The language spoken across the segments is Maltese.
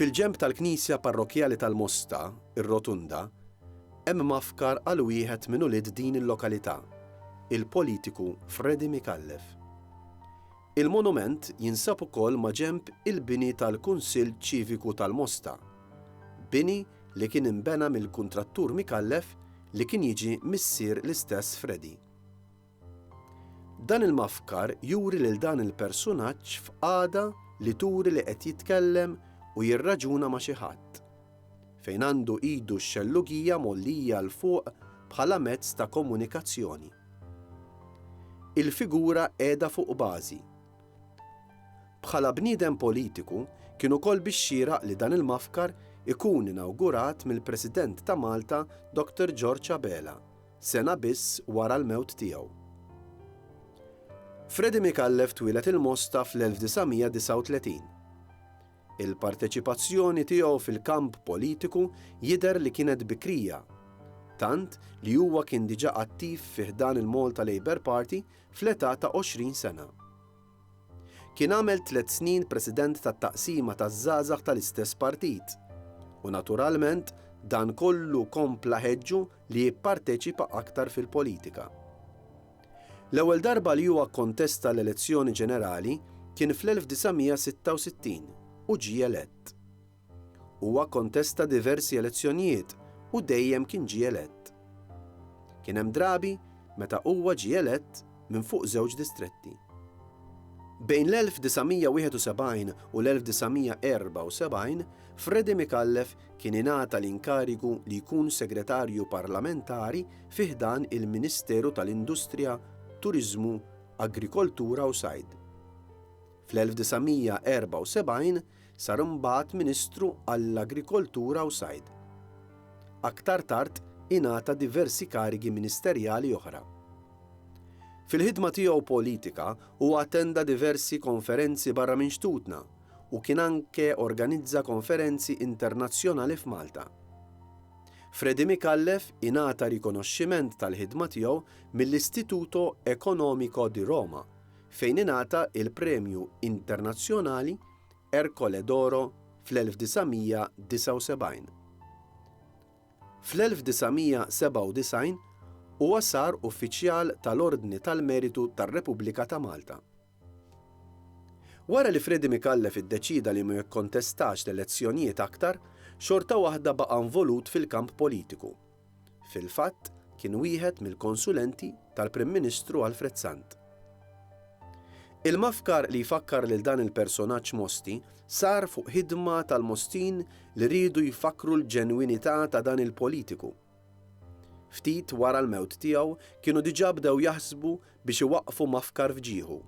Fil-ġenb tal-knisja parrokkjali tal-Mosta, ir-Rotunda, hemm mgħaffkar għal wieħed minn ulied din il-lokalità, il-politiku Freddy Micallef. Il-monument jinsab ukoll maġenb il-bini tal-Kunsill Ċiviku tal-Mosta, bini li kien inbena mill-kuntrattur Micallef li kien jiġi missier l-istess Freddy. Dan il-mafkar juri lil dan il-persunaġġ f'qagħda li turi li qed jitkellem u jirraġuna ma' xi ħadd, fejn għandu idu x-xellugija mgħollija 'l fuq bħala mezz ta' komunikazzjoni. Il-figura qiegħda fuq bażi. Bħala bniedem politiku, kien ukoll bix-xieraq li dan il-mafkar ikun inawgurat mill-President ta' Malta Dr. George Abela sena biss wara l-mewt tiegħu. Freddie Micallef twieled il-Mosta fl-1939. Il-parteċipazzjoni tiegħu fil-kamp politiku jidher li kienet bikrija, tant li huwa kien diġà attiv fi ħdan il-Malta Labour Party fl-età ta' 20 sena. Kien għamel tliet snin President tat-Taqsima taż-Żgħażagħ tal-istess partit u naturalment dan kollu kompla ħeġġu li jipparteċipa aktar fil-politika. L-ewwel darba li huwa kkontesta l-elezzjoni ġenerali kien fl-1966 u ġie elett. Huwa kkontesta diversi elezzjonijiet u dejjem kien ġie elett. Kien hemm drabi meta huwa ġie elett minn fuq żewġ distretti. Bejn l-1971 u l-1974, Freddie Micallef kien ingħata l-inkarigu li jkun Segretarju Parlamentari fi ħdan il-Ministeru tal-Industrija, Turiżmu, Agrikoltura u Sajd. Fl-1974, Sar imbagħad Ministru għall-Agrikoltura u Sajd. Aktar tard ingħata diversi karigi ministerjali oħra. Fil-ħidma tiegħu politika huwa attenda diversi konferenzi barra minn xtutna u kien anke organizza konferenzi internazzjonali f'Malta. Freddie Micallef ingħata rikonoxximent tal-ħidma tiegħu mill-Istituto Economico di Roma fejn ingħata l-Premju Internazzjonali Ercole d'Oro fl-1979. Fl-1997 huwa sar Uffiċjal tal-Ordni tal-Meritu tar-Repubblika ta' Malta. Wara li Freddie Micallef iddeċieda li ma jikkontestax l-elezzjonijiet aktar, xorta waħda baqa' involut fil-kamp politiku. Fil-fatt, kien wieħed mill-konsulenti tal-Prim Ministru Alfred Sant. Il-mafkar li jfakkar lil dan il-personaġġ Mosti sar fuq ħidma tal-Mostin li riedu jfakkru l-ġenwinità ta' dan il-politiku. Ftit wara l-mewt tiegħu kienu diġà bdew jaħsbu biex iwaqqfu mafkar f'ġieħu.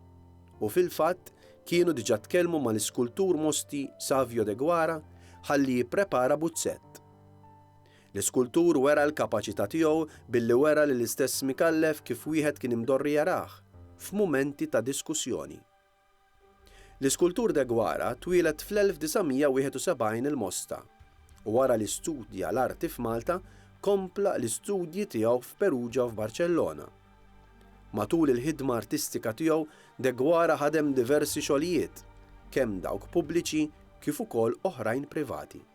U fil-fatt, kienu diġà tkellmu mal-iskultur Mosti Savio Deguara ħalli jipprepara buzzett. L-iskultur wera l-kapaċità tiegħu billi wera li l-istess Micallef kif wieħed kien imdorri jarah, f'mumenti ta' diskussjoni. L-iskultur Deguara twieled fl-1971 il-Mosta, u wara li studja l-arti f'Malta, kompla l-istudji tiegħu f'Perugia u f'Barċellona. Matul il-ħidma artistika tiegħu, Deguara ħadem diversi xogħlijiet, kemm dawk pubbliċi kif ukoll oħrajn privati.